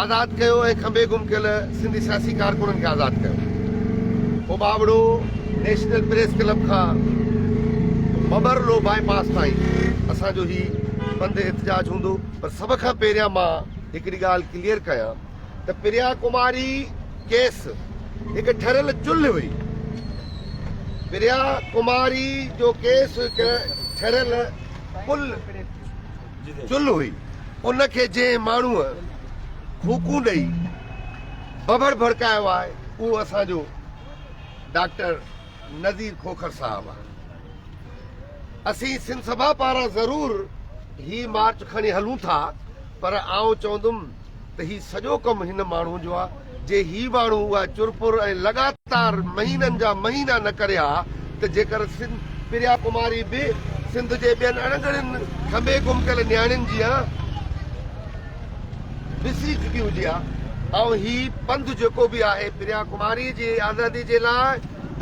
آزاد ڪيو ۽ کنڀي گم ڪيل سنڌي سياسي ڪارڪنن کي آزاد ڪيو. پوء ٻاوڙو نيشنل پريس ڪلب کان مٻرلو بائي پاس تائين اسان جو هي بند احتجاج هوندو. پر سڀ کان پهريان مان هڪڙي ڳالهه ڪليئر ڪيان ته پريا ڪماري ڪيس هڪ ٺريل چلهه هئي. پريا ڪماري جو ڪيس هڪ ٺريل پل. چلھ هئي، ان کي جنهن ماڻهوء ڦوڪون ڏئي ڀڀڙ ڀڙڪايو آهي، اهو اسان جو ڊاڪٽر نذير کوکر صاحب آهي. اسين سنڌ سڀا پاران ضرور هي مارچ کڻي هلون ٿا، پر آئون چوندم ته هي سڄو ڪم هن ماڻهو جو آ، جي هي ماڻهو اها چرپر ۽ لڳاتار مهينن جا مهينا نه ڪري ها ته جيڪر سنڌ پريا ڪماري به سنڌ جي ٻين اڻگهڙين کنڀي گم ڪيل نياڻين جيان وسري چڪي هجي ها ۽ هي پنڌ جيڪو به آهي پريا ڪماري جي آزادي جي لاء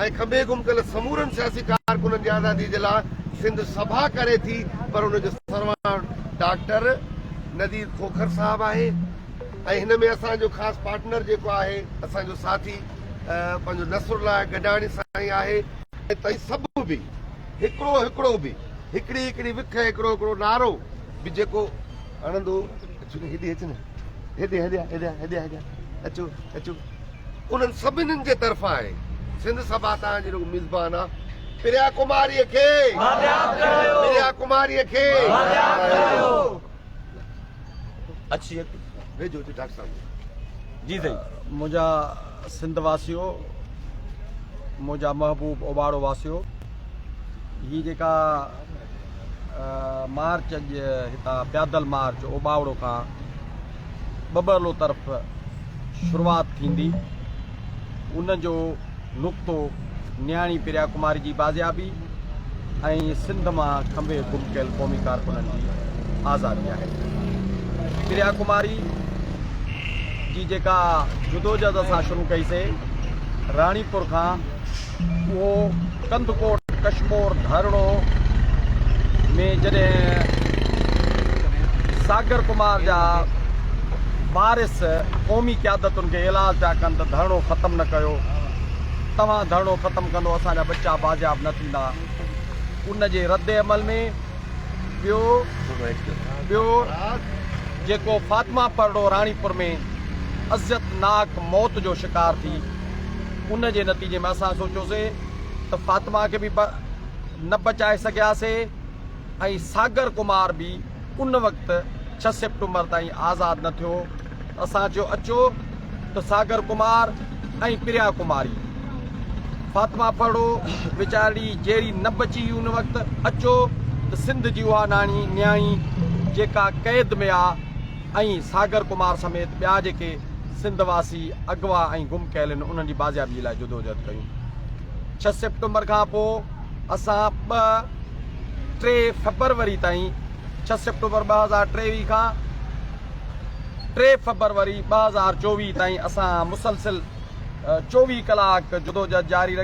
۽ کنڀي گم ڪيل سمورن سياسي ڪارڪنن جي آزادي جي لاء سنڌ سڀا ڪري ٿي پر ان جو سرواڻ ڊاڪٽر ندير کوکر صاحب آهي ۽ هن ۾ اسان جو خاص پارٽنر جيڪو آهي اسان جو ساٿي پنهنجو نصر الله گڏاڻي سائين آهي ۽ سڀ به هڪڙو هڪڙو به هڪڙي هڪڙي وک هڪڙو هڪڙو نعرو به جيڪو هڻندو هيڏي اچ نه هيڏي هيڏي هيڏي هيڏي اچو اچو انهن سڀني جي طرفان آهي. سنڌ سڀا تان جي رڳو ميزبان آ. پريا ڪماري کي بادياب ڪرايو. پريا ڪماري کي بادياب ڪرايو. اچ اچ ويجهو اچ ڊاڪٽر صاحب جي سائين. منهنجا سنڌ واسيو منهنجا محبوب اوٻاڙو واسيو هي جيڪا مارچ اڄ هتان پيادل مارچ اوٻاوڙو کان ٻٻرلو طرف شروعات ٿيندي. ان جو نقطو نياڻي پريا ڪماري جي بازيابي ۽ سنڌ مان کنڀي گم ڪيل قومي ڪارڪنن جي آزادي آهي. پريا ڪماري جي جيڪا جدوجهد اسان شروع ڪئي سي راڻيپور کان اهو ڪنڌڪوٽ ڪشمور ڌرڻو ۾ جڏهن ساگر ڪمار جا وارث قومي قيادتن کي ايلاز پيا ڪن ته ڌرڻو ختم نه ڪيو توهان ڌرڻو ختم ڪندو اسان جا ٻچا بازياب نه ٿيندا ان جي رد عمل ۾ ٻيو ٻيو جيڪو فاطمه پرڙو راڻيپور ۾ عزت ناڪ موت جو شڪار ٿي ان جي نتيجي ۾ اسان سوچيوسين ته فاطمه کي به نه بچائي سگهياسين ۽ ساگر ڪمار به ان وقت ڇهه سيپٽمبر تائين آزاد نه ٿيو ته اسان چيو اچو ته ساگر ڪمار ۽ پريا ڪماري فاطمه پهڙو ويچارڙي جيئري نه بچي ان وقت اچو ته سنڌ جي اها ناڻي نياڻي جيڪا قيد ۾ آ ۽ ساگر ڪمار سميت ٻيا جيڪي سنڌ واسي اغوا ۽ گم ڪيلن انهن جي بازيابي لاء جدوجهد ڪيون. ڇهه سيپٽمبر کان پوء اسان ٻه ٽي فيبروري تائين ڇهه سيپٽمبر ٻه هزار ٽيويهه کان ٽي فيبروري ٻه هزار چوويهه تائين اسان مسلسل چوويهه ڪلاڪ جدوجهد جاري رکي.